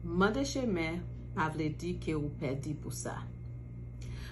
Mande chemen pa vle di ke ou pèdi pou sa.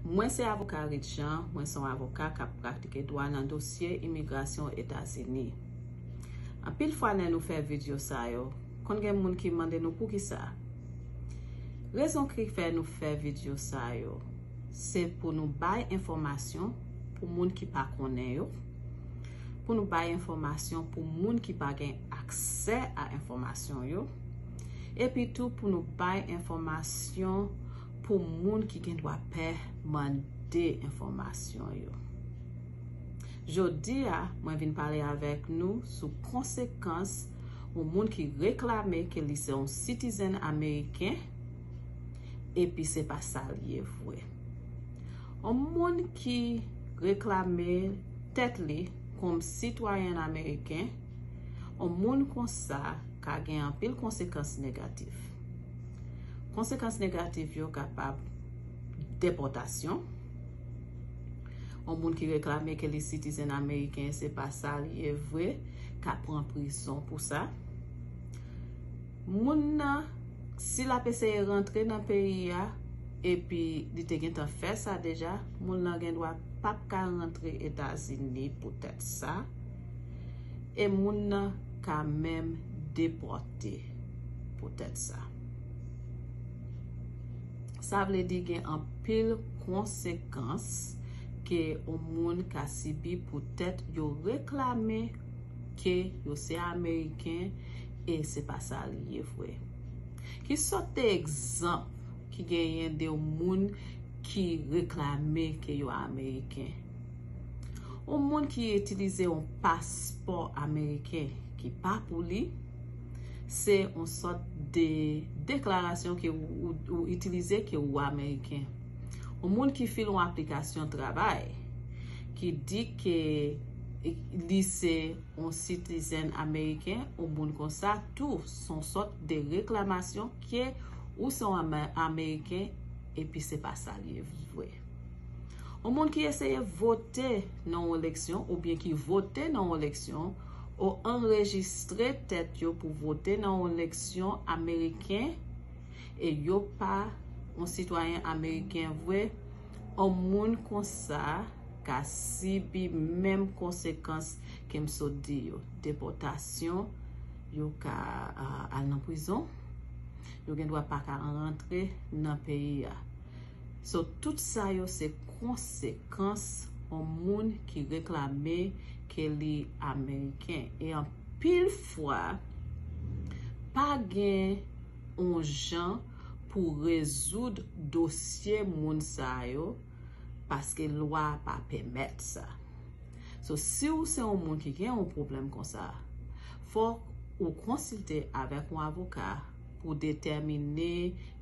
Mwen se avoka Rit Jean, mwen se yon avoka kap pratike dwa nan dosye imigrasyon Etazini. Anpil fwa lè nou fè vidyo sa yo, konn gen moun ki mande nou poukisa? Rezon ki fè nou fè vidyo sa yo, se pou nou bay enfòmasyon pou moun ki pa konnen yo, pou nou bay enfòmasyon pou moun ki pa gen. aksè a enfòmasyon yo, epi tou pou nou bay enfòmasyon pou moun ki gen dwa pè mande enfòmasyon yo. Jodi a, mwen vin pale avèk nou sou konsekans yon moun ki reklame ke li se yon sitizèn ameriken epi se pa sa li ye vre. Yon moun ki reklame tèt li kòm sitwayèn ameriken, On moun konsa ka gen anpil konsekans negatif. Konsekans negatif yo kapab depòtasyon. On moun ki reklame ke li sitizen ameriken se pa sa li ye vre ka pran prizon pou sa. Moun nan si l ap eseye rantre nan peyi a epi li te gentan fè sa deja, moun nan gendwa pap ka rantre Etazini poutèt sa. e moun nan ka menm depòte poutèt sa. Sa vle di gen anpil konsekans ke yon moun ka sibi poutèt yo reklame ke yo se Ameriken e se pa sa li ye vre. Ki sòt de egzanp ki genyen de yon moun ki reklame ke yo Ameriken? Yon moun ki itilize yon paspò ameriken ki pa pou li, se yon sòt de deklarasyon ke ou itilize ke ou ameriken. Yon moun ki file yon aplikasyon travay, ki di ke li se yon sitizèn ameriken, yon moun konsa tou, se yon sòt de reklamasyon ke ou se yon ameriken epi se pa sa li ye vre. Yon moun ki eseye vote nan yon eleksyon oubyen ki vote nan yon eleksyon o anrejistre tèt yo pou vote nan yon eleksyon ameriken e yo pa yon sitwayen ameriken vre, yon moun konsa ka sibi menm konsekans ke m sot di yo, depòtasyon, yo ka al nan prizon, yo gen dwa pa ka rantre nan peyi a. So tout sa yo se konsekans on moun ki reklame ke li Ameriken. E anpil fwa pa gen on jan pou rezoud dosye moun sa yo paske lwa a pa pèmèt sa. So si ou se on moun ki gen on pwoblèm konsa, fòk ou konsilte avèk on avoka pou detèmine